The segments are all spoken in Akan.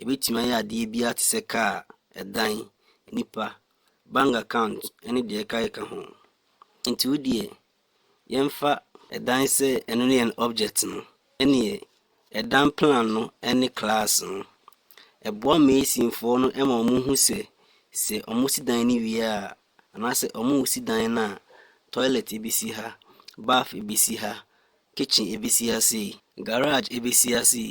Ebetumi ayɛ adeɛ biara te sɛ kaa, ɛdan, nnipa, bank account ne deɛ ɛkakeka ho. Enti wo deɛ yɛmfa. Ɛdan sɛ ɛno ne yɛn object no. Ɛneɛ ɛdan plan no ne class no. Ɛboa masonfoɔ no ma wɔn hu sɛ sɛ wɔn si dan no wie a anaasɛ wɔn resi dan no a toilet ebesi ha, bath ebesi ha, kitchen ebesi ha sei, garage ebesi ha sei,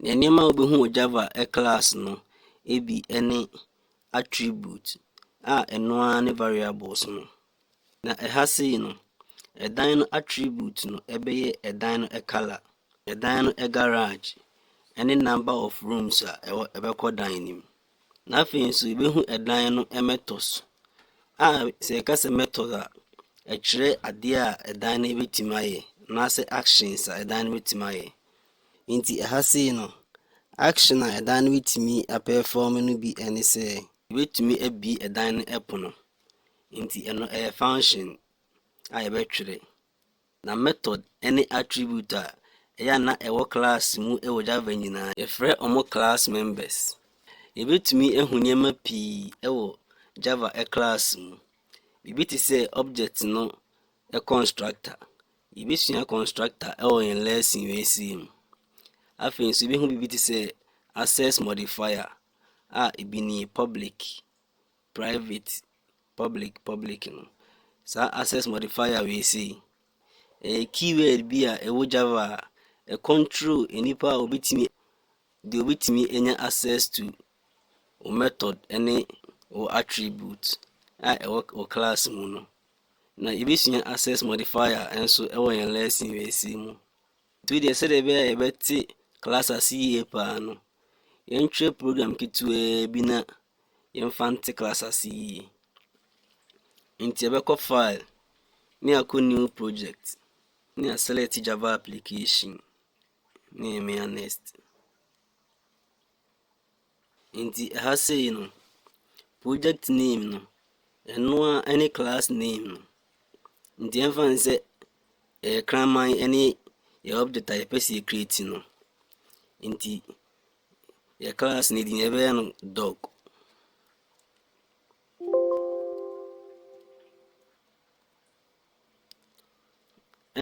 Nneɛma a wubehu wɔ Java class no bi ne attribute a ɛno ara ne variables no. Na ɛha sei no, ɛdan no attribute no ɛbɛyɛ ɛdan no color, ɛdan no garage, ɛne number of rooms a ɛwɔ ɛbɛkɔ dan no mu. Na afei nso yɛbɛhu ɛdan no metɔs a sɛ yɛka sɛ metɔs a, ɛkyerɛ adeɛ a ɛdan no bɛtumi ayɛ anaasɛ actions a ɛdan no bɛtumi ayɛ. Nti ɛha sei no, action a ɛdan no bɛtumi apɛɛfɔm no bi ɛne sɛ yɛbɛtumi abie ɛdan no ɛpono. Nti ɛno ɛyɛ function a yɛbɛtwerɛ. Na method ne attribute a ɛyɛ a na ɛwɔ class mu wɔ Java nyinaa, yɛfrɛ wɔn class members. Yɛbɛtumi ahu nneɛma pii wɔ Java class mu. Biribi te sɛ object no constructor. Yɛbɛsua constructor wɔ yɛn lesson wei sei mu. Afei nso yɛbɛhu biribi te sɛ access modifier a ebi ni public private, public, public no. Saa access modifier wei sei, ɛyɛ keyword bi a ɛwɔ Java a ɛcontrol nnipa a wɔbɛtumi deɛ wɔbɛtumi anya access to wo method ne wo attribute a ɛwɔ wo class mu no. Na yɛbɛsua access modifier nso ɛwɔ yɛn lesson wei sei mu. Afei deɛ sɛdeɛ ɛbɛyɛ a yɛbɛte class ase yie paa no, yɛntwerɛ program ketewaa bi na yɛmfa nte class ase yie. Nti yɛbɛkɔ file ne akɔ new project ne aselect java application ne yɛmea next. Nti ɛha sei no, project name no, ɛno ara ne class name no. Nti ɛmfa ne sɛ ɛyɛ kraman ne yɛ object a yɛpɛ sɛ yɛcreate no. Nti yɛ class no din yɛbɛyɛ no dog.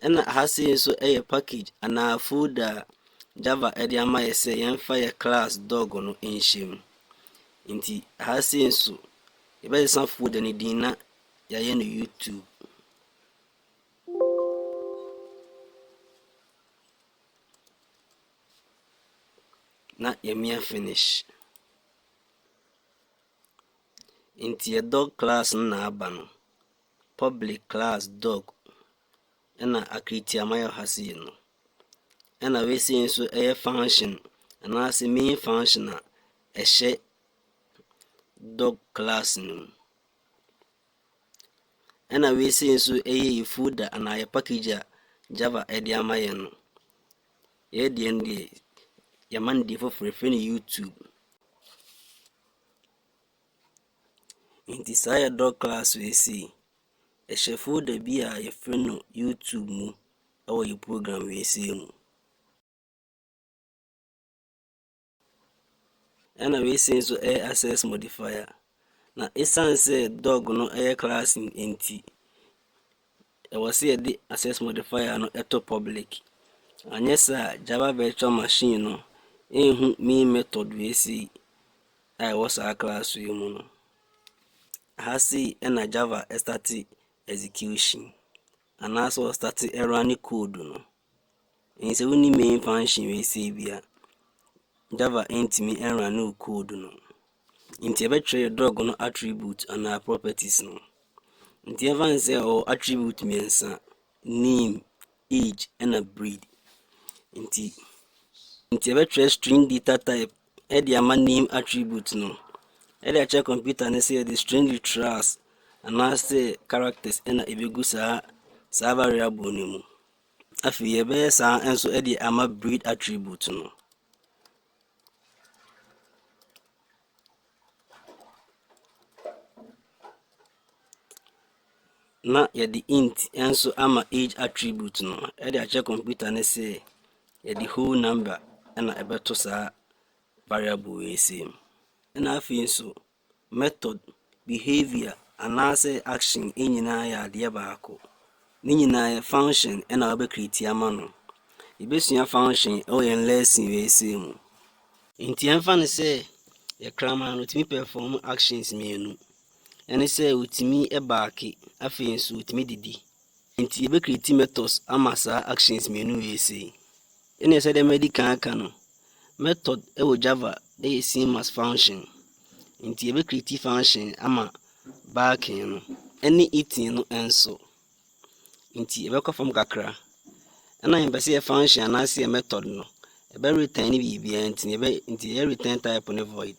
Ɛna ha sei nso yɛ package anaa folder a Java de ama yɛ sɛ yɛmfa yɛ class dog no nhyɛ mu. Nti ha sei nso yɛbɛsesa folder no din na yɛayɛ no YouTube. Na yɛmia finish. Nti yɛ dog class no na aba no. Public class dog na akritiama yɛ ha sei no. Ɛna wei sei nso ɛyɛ function anaasɛ main function a ɛhyɛ dog class no mu. Ɛna wei sei nso ɛyɛ yɛ food a anaa yɛ package a Java ɛde ama yɛn no. Yɛ deɛ no deɛ yɛma no deɛ foforɔ ɛfrɛ no YouTube. Enti saa yɛ dɔ class wei sei. Ɛhyɛ folder bi a yɛfrɛ no YouTube mu ɛwɔ yɛ program wei sei mu. Ɛna wei sei nso ɛyɛ access modifier. Na ɛsiane sɛ dog no ɛyɛ class nti, Ɛwɔ sɛ yɛde Access Modifier no to Public, anyɛ saa a Java Virtual Machine no renhu main method wei sei a ɛwɔ saa class yi mu no. Aha sei na Java starte execution anaasɛ ɔstarte running code no. Ɛnti sɛ wonni main function wei sei bi a, Java ntumi nrane wo code no. Nti ɛbɛtwerɛ yɛ drug no attribute anaa properties no. Nti ɛfa ne sɛ ɛwɔ attribute mmiɛnsa, name, age ɛna breed. Nti nti ɛbɛtwerɛ string data type ɛde ama name attribute no. Ɛde akyerɛ computer no sɛ yɛde string literals anaasɛ characters ɛna ɛbɛgu saa saa variable no mu. Afei yɛbɛyɛ saa ara nso de ama breed attribute no. Na yɛde int nso ama age attribute no de akyerɛ computer no sɛ yɛde whole number na ɛbɛto saa variable wei sei mu. Ɛna afei nso method, behavior anaasɛ action nyinaa yɛ adeɛ baako. Ne nyinaa yɛ function na wobɛ create ama no. Yɛbɛsua function wɔ yɛn lesson wei sei mu. Nti ɛmfa no sɛ yɛ kraman no ɔtumi perform actions mmienu. Ɛne sɛ ɔtumi baake afei nso ɔtumi didi. Enti yɛbɛ create methods ama saa actions mmienu wei sei. Ɛnneɛ sɛdeɛ madi kan aka no, method wɔ Java yɛ same as function. Enti yɛbɛ create function ama barking no ɛne eating no nso. Enti yɛbɛkɔ fam kakra. Ɛna yɛmpɛ sɛ yɛ function anaasɛ yɛ method no ɛbɛ return ne biribiara nti yɛbɛ nti yɛ return type ne void.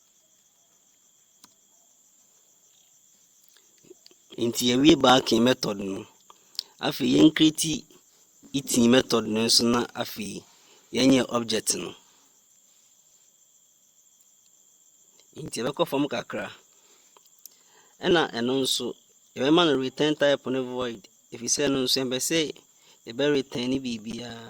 Nti yɛwie baaking method no, afei yɛn create eating method no nso na afei yɛnyɛ object no. Nti yɛbɛkɔ fam kakra. Ɛna ɛno nso yɛbɛma no return type no void ɛfiri sɛ ɛno nso yɛmpɛ sɛ yɛbɛ return biribiara.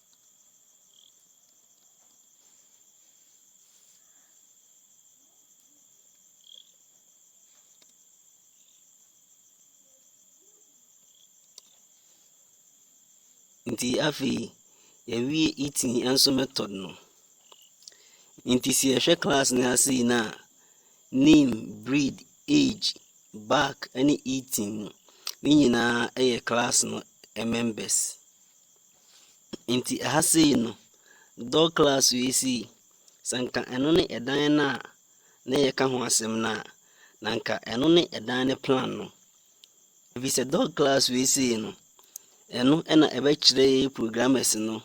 Nti afei yɛwie eating nso method no. Nti sɛ yɛhwɛ class no ase yi no a, name, breed, age, back ne eating no, ne nyinaa yɛ class no members. Nti ɛha sei no, door class wei sei, sɛ anka ɛno ne ɛdan no a na yɛka ho asɛm no a, na anka ɛno ne ɛdan no plan no. Ɛfiri sɛ door class wei sei no, ɛno na ɛbɛkyerɛ yɛn programmers no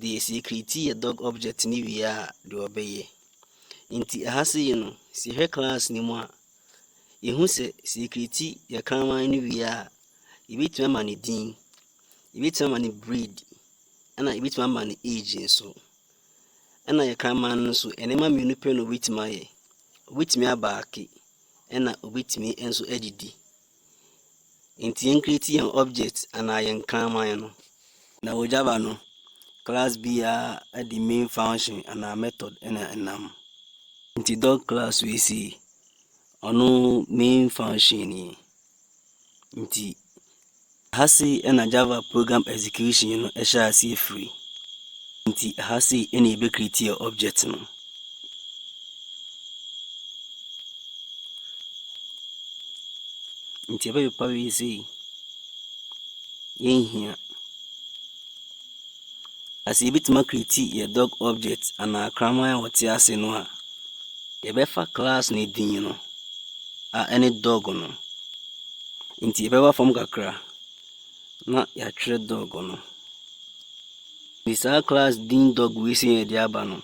deɛ sɛ yɛkreti yɛ dog object no wie a deɛ ɔbɛyɛ. Nti ɛha sei no, sɛ yɛhwɛ class no mu a, yɛhu sɛ sɛ yɛkreti yɛ kraman no wie a, yɛbɛtumi ama no din. Yɛbɛtumi ama no breed, ɛna yɛbɛtumi ama no age nso. Ɛna yɛ kraman no nso, nneɛma mmienu pɛ na ɔbɛtumi ayɛ. Ɔbɛtumi abaake, ɛna ɔbɛtumi nso adidi. Nti yɛn create yɛn object anaa yɛn kraman no. Na wɔ Java no, class biara de main function anaa method ɛna ɛnam. Nti dog class wei sei, ɔno main function nie. Ntsi ha sei na Java program execution no hyɛɛ aseɛ firi. Ntsi ha sei na yɛbɛ create yɛ object no. Ntsi yɛbɛ pepa wei sei, yɛnhia. a, sɛ yɛbɛtumi akreati yɛ dog object anaa kraman a ɔte ase no a, yɛbɛfa class no din no a ɛne dog no. Nti yɛbɛba fam kakra na yɛatwerɛ dog no. De saa class din dog wei sɛ yɛde aba no,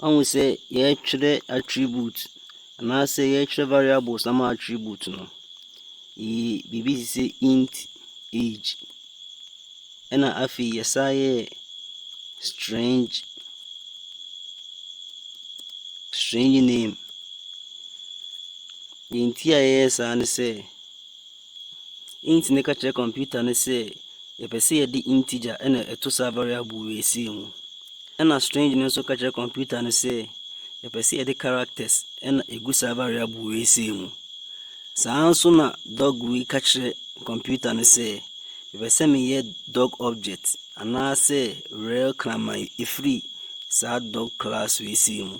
ɔhu sɛ yɛtwerɛ attribute Anaasɛ yɛrekyerɛ variables ama attribute no, yɛyi biribi te sɛ int age, ɛna afei yɛsan yɛ strange strange name. Deɛ nti a yɛyɛ saa ne sɛ, Enti na ɛka kyerɛ kɔmputa no sɛ yɛpɛ sɛ yɛde integer na ɛto saa variable wei sei mu. Ɛna string no nso ka kyerɛ kɔmputa no sɛ yɛpɛ sɛ yɛde characters na ɛgu saa variable wei sei mu. Saa nso na dog wei ka kyerɛ kɔmputa no sɛ mepɛ sɛ meyɛ dog object anaasɛ rel kraman ɛfiri saa dog class wei sei mu.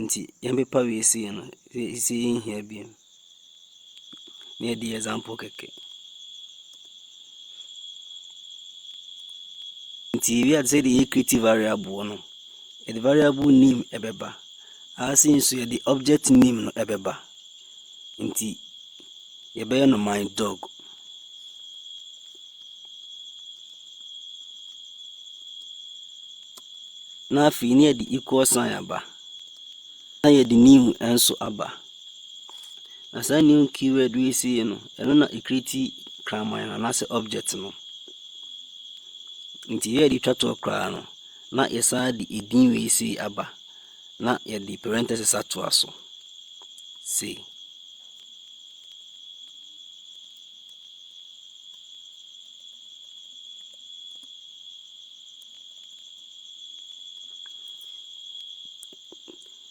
Nti yɛn pepa wei sei no sɛ yɛn hia bi mu na yɛde yɛ example kɛkɛ nti ebi ade sɛ yɛde creative variable no yɛde variable name ɛbɛba ase nso yɛde object name no ɛbɛba nti yɛbɛyɛ no my dog. Na afei na yɛde equal sign aba. Na yɛde new nso aba. Na saa new keyword wei sei no, ɛno na ɛkreti kraman no anaasɛ object no. Nti yɛde twa toɔ koraa no, na yɛsan de edin wei sei aba. Na yɛde parenthesis atoa so. Se.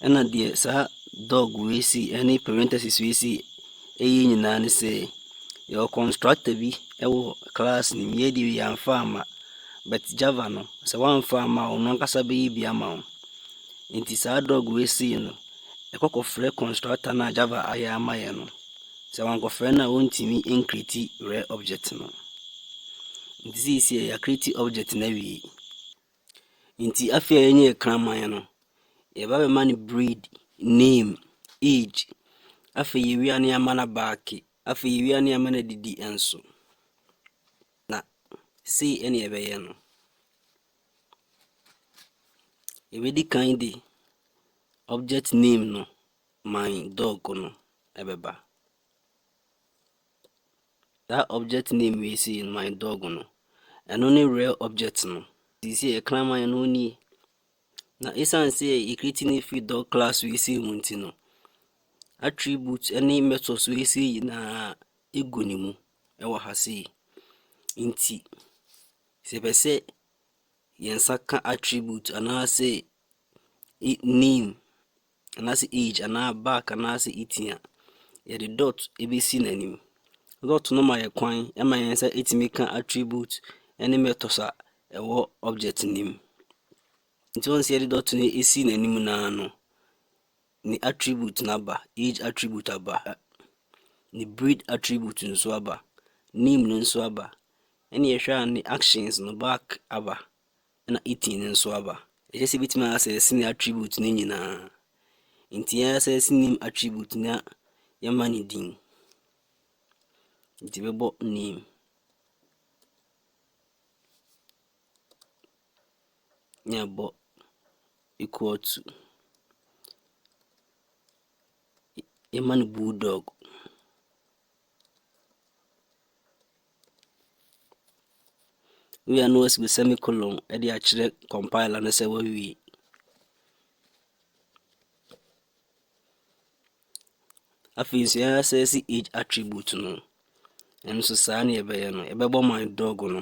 ɛna deɛ saa dog wei si ɛne parenthesis wei si ɛyɛ nyinaa ne sɛ yɛwɔ constructor bi ɛwɔ class no mu yɛde yɛamfa ama but java no sɛ woamfa ama a ɔno ankasa bɛyɛ bi ama wo Enti saa dɔg wei sei no, ɛkɔ kɔfrɛ kɔnstrata no a Java ayɛ ama yɛ no. Sɛ wankɔfrɛ no a wontumi nkreti rɛ objɛt no. Nti seisiɛ yɛakreti objɛt no awie. Nti afei a yɛnyɛ yɛ kraman no, yɛba bɛma no breed, name, age. Afei yɛwie a ne yɛama no abaake. Afei yɛwie a ne yɛama no adidi nso. Na sei ɛne yɛbɛyɛ no. Yɛbɛdi kan de object name no, my dog no ɛbɛba. That object name wei sei no, my dog no, ɛno ne real object no. Sisi yɛ kraman no nie. Na ɛsiane sɛ yɛ create ne free dog class wei sei mu nti no, attribute ne methods wei sei nyinaa ɛgu ne mu ɛwɔ ha sei. Nti Sɛ yɛpɛ sɛ yɛn nsa ka attribute anaasɛ name anaasɛ age anaa back anaasɛ itin a, yɛde dot bɛsi n'anim. Dot no ma yɛ kwan ma yɛn nsa tumi ka attribute ne methods a ɛwɔ object no mu. Nti woahu sɛ yɛde dot no si n'anim no ara no, Ne attribute no aba, age attribute aba, ne breed attribute nso aba, name no nso aba. Ɛna yɛhwɛ a ne actions no back aba, ɛna eating no nso aba. Ɛkyɛ sɛ ebɛtumi asɛse ne attribute no nyinaa. Nti yɛasɛse name attribute na yɛma ne din. Nti bɛbɔ name. Yɛbɔ equal to. Yɛma no bulldog. Wei a na wɔasɛ semicolon de akyerɛ compiler no sɛ wawie. afei nso yɛa sɛ si age attribute no ɛno nso saa ne yɛbɛyɛ no yɛbɛbɔ my dog no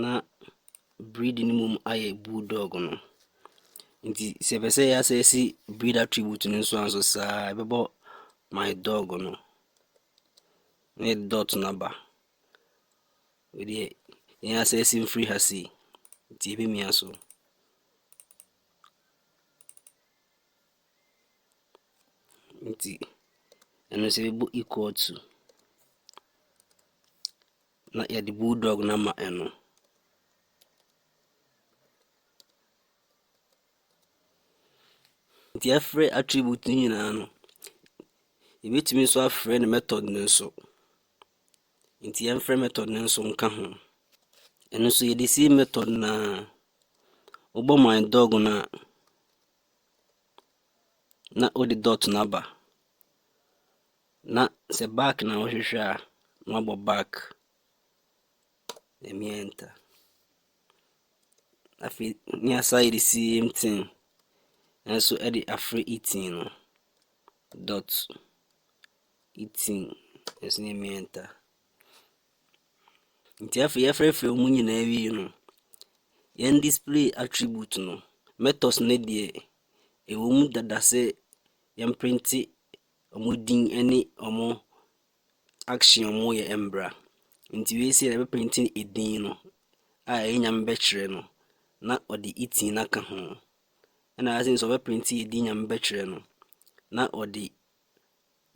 Na breed no mmom ayɛ bull dog no. Nti sɛ ɛpɛ sɛ yɛasɛɛse breed attribute no nso a nso saa ara yɛbɛbɔ my dog no na yɛde dot no aba. Wei deɛ yɛn asɛɛse mfiri ha sei nti ɛbɛmia so. Nti ɛno nso yɛbɔ equal to na yɛde bull dog no ama ɛno. Nti yɛfrɛ attribute no nyinaa no, yɛbɛtumi nso afrɛ no method no nso. Nti yɛmfrɛ method no nso nka ho. Ɛno nso yɛde si method no a wobɔ my dog no a na wode dot no aba. Na sɛ back na wohwehwɛ a na wabɔ back. Ɛmi enter. Afei ne asa yɛde same thing nso de afrɛ eating no dot. Etsinn, Etsinn yɛ miɛnta. Ntsi afei yɛfrɛfrɛ mu nyina wie no, yɛn display attribute no, metɔs no deɛ, ɛwɔ mu dada sɛ yɛmprente ɔmo din ɛne ɔmo action ɔmo yɛ mbra. Ntsi wei sei yɛbɛprente edin no a ɛyɛ Nyame bɛkyerɛ no na ɔde Etsinn aka ho. Ɛna wei sei nso ɔbɛprente edin Nyame bɛkyerɛ no na ɔde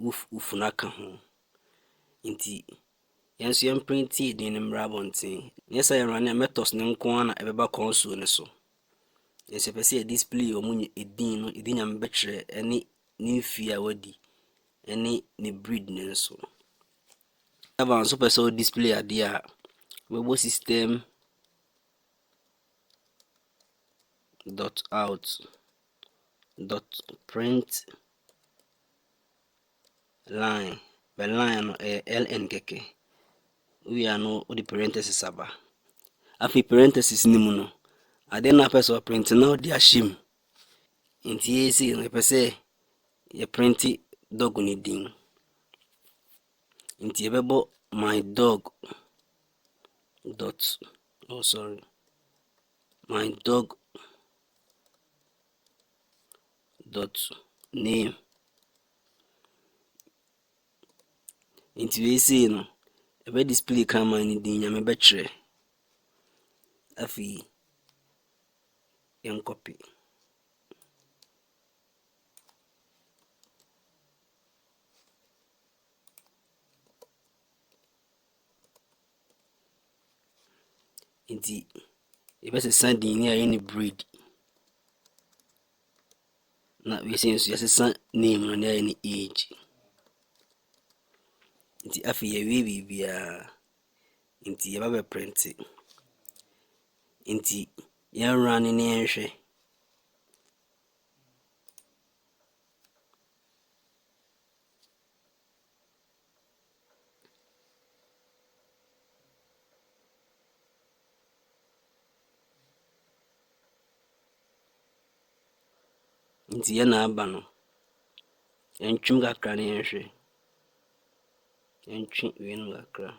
wo funu aka ho. Nti yɛn nso yɛmprinte edin no mmra abɔnten. Nyɛ sɛ yɛn Ranemetos no nko ara na ɛbɛba kɔnsool no so. Yɛn nso yɛpɛ sɛ yɛ display wɔn edin no, edin Nyame bɛtwerɛ ɛne ne mfie a wadi ɛne ne breed no nso. Ever nso pɛ sɛ wo display adeɛ a wobɛbɔ system dot out dot print Line, bɛ line no ɛyɛ LN kɛkɛ. Wowie a no wode parentheses aba. Afei parentheses no mu no, ade na apɛ sɛ ɔprente na wode ahyɛ mu. Nti yei sei no yɛpɛ sɛ yɛprente dog no din. Nti yɛbɛbɔ my dog dot oh sorry my dog Dɔto name. Nti wei sei no, ɛbɛ display Kraman no din, Nyame bɛkyerɛ. Afei, yɛn copy. Nti yɛbɛsesa din no a yɛyɛ no breed. Na wiase nso yɛsesa name no na yɛyɛ no age. Nti afei yɛwie biribiara. Nti yɛba bɛ prente. Nti yɛn running ne yɛn hwɛ. Nti yɛ na aba no, yɛntwem kakra na yɛnhwɛ. Yɛntwe wei no kakra.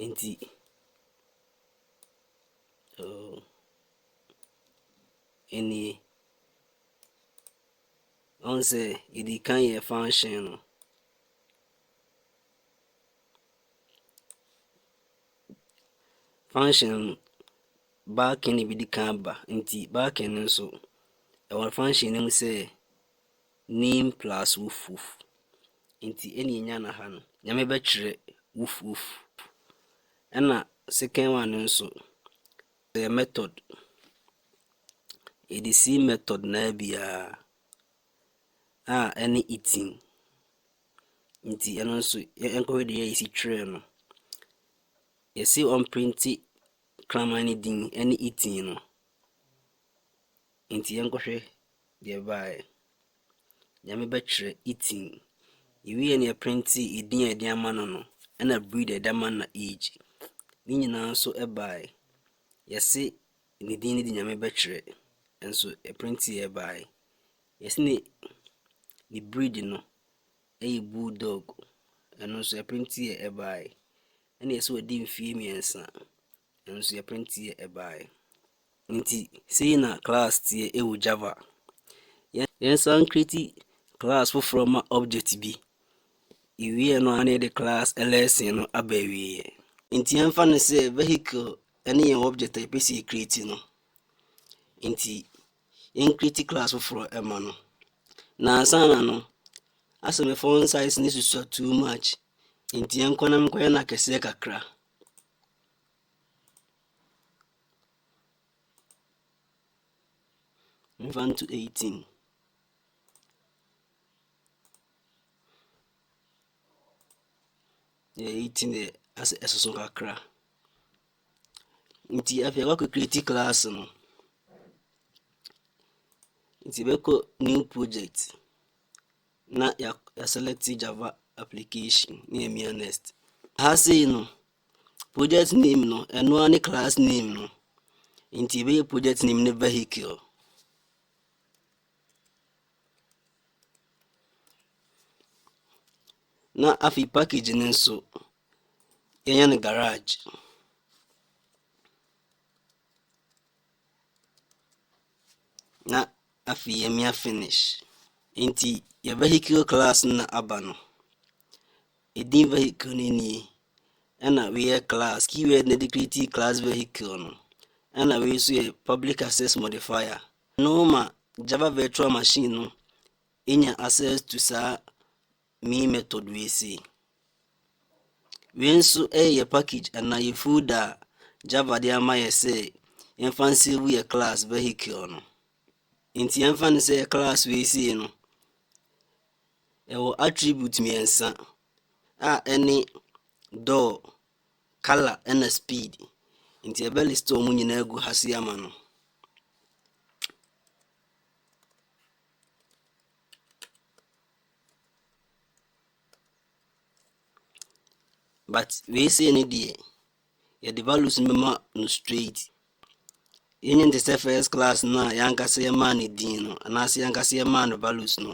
Nti, oh. nie. Woahu sɛ yɛdii kan yɛɛ function no. Function no, backing na ɛbɛdi kan aba nti backing no nso ɛwɔ function no mu sɛ name plus woof woof nti ɛna ɛnya no ha no nyame bɛkyerɛ woof woof ɛna second one no nso Ɛyɛ method. Yɛde sii method no ara biara a ɛne eating. Nti ɛno nso yɛnkɔhwɛ deɛ yɛsi twerɛ no. Yɛsi ɔmprinti kraman no din ɛne eating no. Enti yɛnkɔhwɛ deɛ ɛbaeɛ. Nyame bɛtwerɛ eating. Yɛwieeɛ no yɛprintee edin a yɛde ama no no ɛna breed a yɛde ama no na age. Ne nyinaa nso baeɛ. Yɛse ne din no de Nyame bɛtwerɛ nso ɛprinteeɛ baeɛ. Yɛse ne ne breed no ɛyɛ bull dog ɛno nso ɛprinteeɛ baeɛ. Ɛna yɛse wadi mfeɛ mmiɛnsa Nanso yɛpɛn tie ɛbaeɛ. Nti sei na class teɛ ɛwɔ Java. Yɛnsan create class foforɔ ma object bi. Yɛwieɛ no a na yɛde class lesson no aba awieɛ. Nti yɛmfa no sɛ vehicle ɛne yɛn object a yɛpɛ sɛ yɛ create no. Nti yɛn create class foforɔ ɛma no. Na ansa na no asɛ me font size no susua too much. Nti yɛnkɔ na menkɔyɛ no akɛseɛ kakra. Mfa nto 18. Yɛ 18 yɛ asɛ ɛsoso kakra. Nti afei wakɔ create class no. Nti bɛkɔ new project. na yɛaselɛkte Java application ne yɛamia next. Ha sei no, project name no, ɛno ara ne class name no. Nti yɛbɛyɛ project name ne vehicle. na afei package no nso yɛnyɛ no garage Na afei yɛmia finish. Nti yɛ vehicle class no na aba no. Ɛdin vehicle no nie. Ɛna wei yɛ class. Keyword na ɛde create class vehicle no. Ɛna wei nso yɛ public access modifier. No ma Java virtual machine no ɛnya access to saa Mii method wei sei. Wei nso ɛyɛ yɛ package anaa yɛ folder a Java de ama yɛ sɛ yɛmfa nsave yɛ class vehicle no. Nti yɛmfa no sɛ yɛ class wei sei no ɛwɔ attribute mmiɛnsa a ɛne door, color ɛna speed. Nti ɛbɛ list wɔn nyinaa gu ha se ama no. But wei sei no deɛ, yɛde values no bɛma no straight. Yɛnyɛ no te sɛ first class no a yɛn ankasa yɛmaa no din no anaasɛ yɛn ankasa yɛmaa no values no.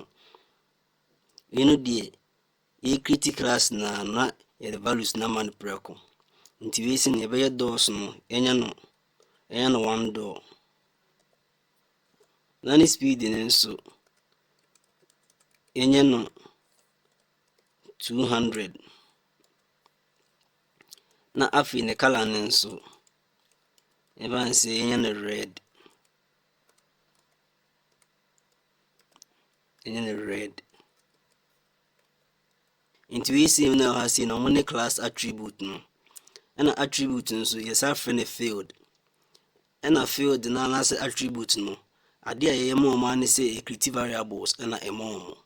Wei no deɛ, yɛrekriti class no ara na yɛde values no ama no prɛko. Nti wei sei no yɛbɛyɛ dɔɔso no, yɛnyɛ no, yɛnyɛ no one door. na ne speed no nso yɛnyɛ no 200 na afei ne color no nso ɛfa ne sɛ yɛnyɛ no red yɛnyɛ no red nti wei sei na ɛwɔ ha sei na wɔn ne class attribute no ɛna attribute nso yɛsan frɛ no field Ɛna Phil de no anase attribute no, ade a yɛyɛ ma wɔn ara ne sɛ yɛkriti variables na ɛma wɔn.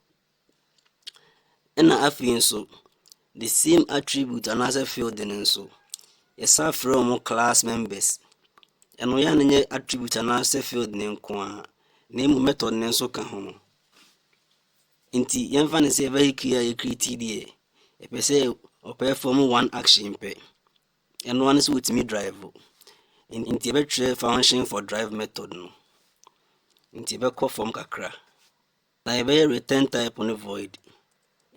Ɛna afei nso, the same attribute anaasɛ Phil de no nso, yɛsan frɛ wɔn class members. Ɛno yɛ a no nyɛ attribute anaasɛ Phil de no nko ara, na emu method no nso ka ho. Nti yɛmfa no sɛ vehicle a yɛkriti deɛ, ɛpɛ sɛ ɔpɛ fam one action pɛ. Ɛno ara ne sɛ wotumi drive. Nti yɛbɛtwerɛ function for drive method no. Nti yɛbɛkɔ fam kakra. Na yɛbɛyɛ return type no void.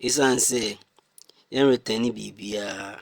Ɛsiane sɛ yɛn return ne biribiara.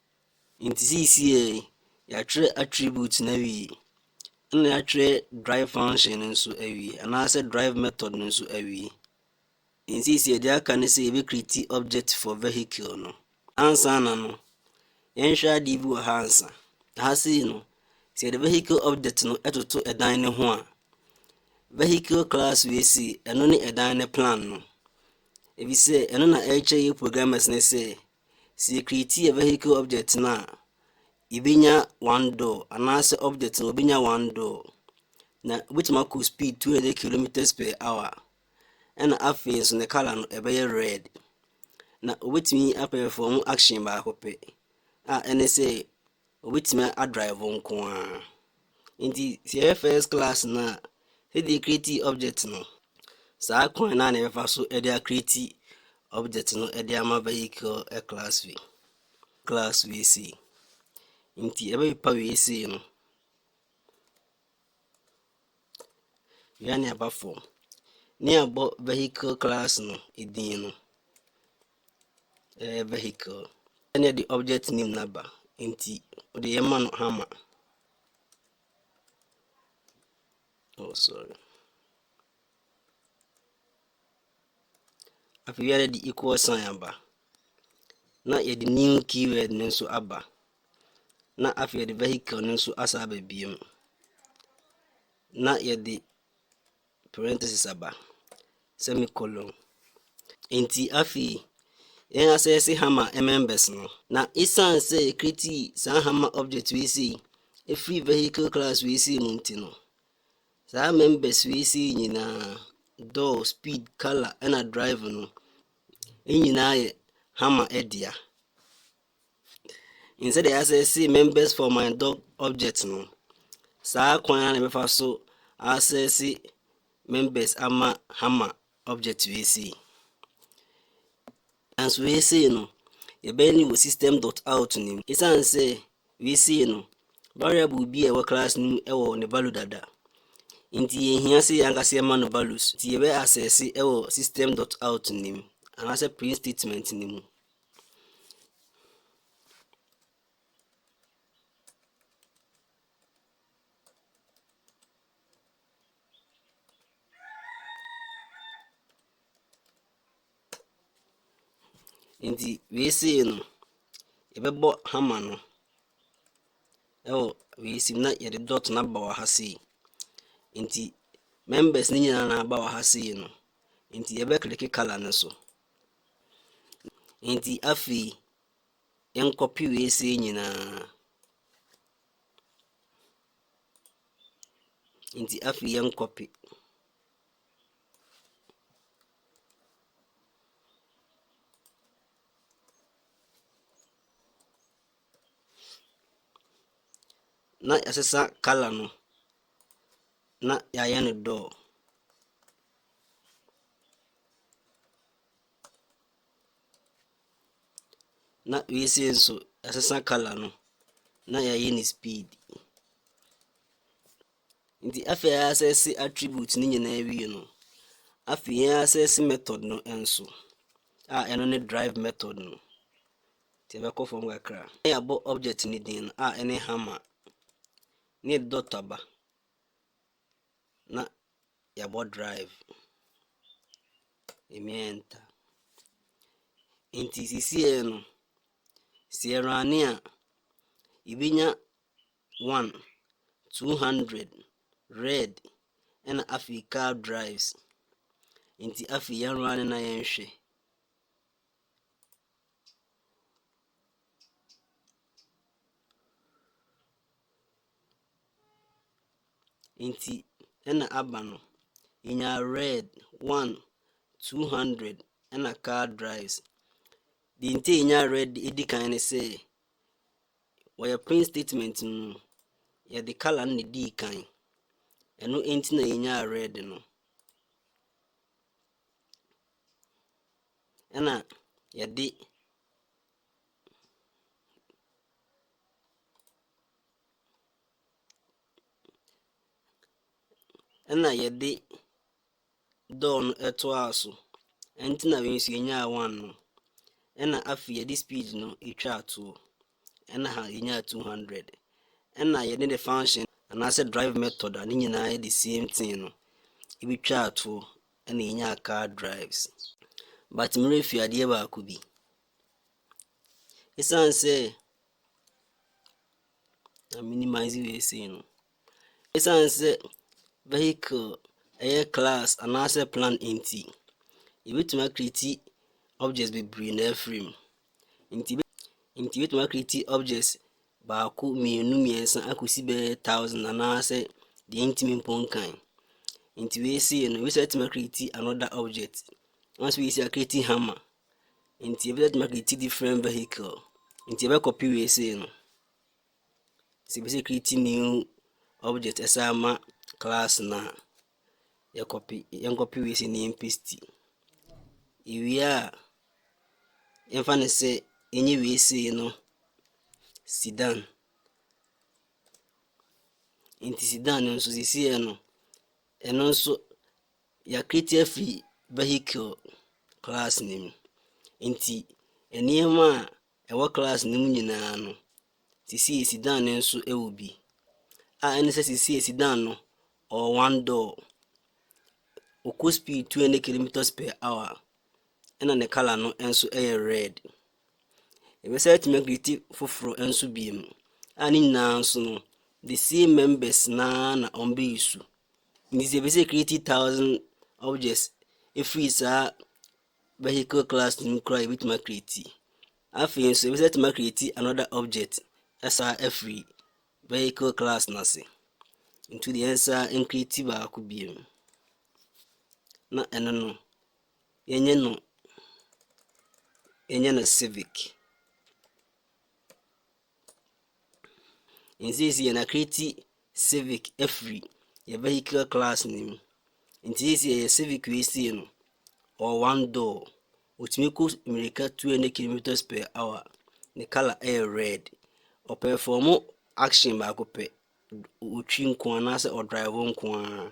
Ntsi sesei yi, yɛatwerɛ attribute no ewie, nna yɛatwerɛ drive function no so ewie, anaasɛ drive method no so ewie. Ntsi sesei dza aka nye dɛ yebecreate object for vehicle no. Ansaana no, yɛnhwɛ adze bi wɔ ha ansa. Ha sei no, sɛ yɛdze vehicle object no toto dan no ho a, vehicle class wei sei, ɔno nye dan no plan no, efisɛ ɔno na ɛrekyerɛ yɛn programmers no sɛ Sɛ yɛ create yɛ vehicle object no a, yɛbɛnya one door anaasɛ object no wɔbɛnya one door. Na wobɛtumi akɔ speed 200 kilometers per hour. Ɛna afei nso ne color no ɛbɛyɛ red. Na wobɛtumi apɛfɔm action baako pɛ a ɛne sɛ Obetumi a drive nko ara. Nti sɛ yɛyɛ first class no a, sɛdeɛ yɛ create object no, saa kwan no a na yɛbɛfa so de a create object no de ama vehicle class wei. Class wei sei. Nti ɛbɛpepa wei sei no. Wia ne aba fam. Ne abɔ vehicle class no edin no. Ɛyɛ vehicle ɛna ɛde object name no aba nti wode yɛma no hammer. Oh sorry. Afei yɛde de equal sign aba na yɛde new keyword no nso aba na afei yɛde vehicle no nso asa aba biem na yɛde parenthesis aba, semicolon. Enti afei, yɛn asɛse hammer members no. Na esiane sɛ yɛkretii saa hammer object wei sei ɛfiri vehicle class wei sei mu nti no, saa members wei sei nyinaa, door, speed, color, ɛna drive no, nyinaa yɛ hammer dea. And sɛdeɛ asɛse members for my dog object no, saa kwan ara na ɛbɛfa so asɛse members ama hammer object wei sei. Nanso wei sei no, yɛbɛyɛ no wɔ system dot out no mu. Ɛsiane sɛ wei sei no, variable bi a ɛwɔ class no mu ɛwɔ ne value dada. Nti yɛhia sɛ yɛn ankasa yɛma no values. Nti yɛbɛ asɛse ɛwɔ system dot out no mu anaasɛ print statement no mu. Nti wei sei no, yɛbɛbɔ hama no ɛwɔ wei sei na yɛde dot no aba wɔ ha sei. Nti members no nyinaa na aba wɔ ha sei no, nti yɛbɛkeleke colour no so. Enti afei, yɛnkɔpe wei sei nyinaa. Enti afei, yɛnkɔpe. na yɛasesa kala no na yɛayɛ no dɔɔ. Na wei sei nso yɛasesa colour no na yɛayi ne speed. Nti afei a yɛasɛse attribute no nyinaa wie no, afei yɛasɛse method no nso a ɛno ne drive method no. Nti yɛbɛkɔ fam kakra. Na yɛabɔ object no din no a ɛne hammer ne dot aba. na yɛabɔ drive, ɛmi enter. Nti sisiɛ no, sɛ yɛ rane a, yɛbɛnya one, two hundred, red, ɛna afei car drives. Nti afei yɛn rane na yɛnhwɛ. Ntsi nna aba no, yenyaa Red one, two hundred na car drives. Dza ntsi a yenyaa Red dze edzi kan nye dɛ, wɔ hɛn print statement no mu no, yɛdze colour no na edzi kan, no ntsi na yenyaa Red no. Nna yɛdze. Ɛna yɛde dɔɔ no ɛtoaa so ɛnti na wei nso yɛnyaa one no ɛna afei yɛde speed no ɛtwaa toɔ ɛna ha yɛnyaa 200 ɛna yɛde the function anaasɛ drive method a ne nyinaa yɛ the same thing no ɛbɛtwaa toɔ ɛna yɛnyaa car drives but merɛ fi adeɛ baako bi Ɛsiane sɛ na minimize wei sei no ɛsiane sɛ vehicle ɛyɛ class anaasɛ plan nti yɛbɛtumi akriti objects bebree na afiri mu nti nti yɛbɛtumi akriti objects baako mmienu mmiɛnsa akɔsi bɛyɛ thousand anaasɛ deɛ ntumi mpo nkan nti wei sei no wei sɛ atumi akriti another object once wei sei akriti hammer Nti ebi bɛtuma create different vehicle nti ɛbɛ copy wei sei no sɛ ebi sɛ create new object ɛsɛ ama class na yɛ copy yɛn copy wei sei na yɛn paste ewie a yɛmfa ne sɛ yɛnyɛ wei sei no sidan nti sidan no nso sisi yɛ no ɛno nso. Yɛakreti afi vehicle class no mu, nti nneɛma a ɛwɔ class no mu nyinaa no, sisi a ɛsidan no nso wɔ bi. A ɛne sɛ sisi a ɛsidan no, ɔwɔ one door. Ɔkɔ speed two hundred kilometres per hour, ɛna ne colour no nso yɛ red. Yɛbɛsan atumi akriti foforɔ nso bio mu a ne nyinaa nso no the same members naa na wɔn bɛ use. Nti sɛ yɛbɛsɛ create thousand objects ɛfiri saa vehicle class no mu koraa yɛbɛtumi akriti. Afei nso yɛbɛsɛ atumi akriti another object ɛsaa ɛfiri vehicle class no ase. Nti deɛ yɛnsa nkriti baako bio mu na ɛno no. Yɛnyɛ no yɛnyɛ no civic. Nsiesi yɛn akreti civic afiri yɛ vehicular class no mu. Nti sisi yɛyɛ civic wei sie no ɔwɔ one door. Otumi kɔ mmirika two hundred kilometres per hour. Ne colour ɛyɛ red. Ɔpɛfɔmo action baako pɛ. Otwi nkoaa anaasɛ ɔdraivo nkoaa.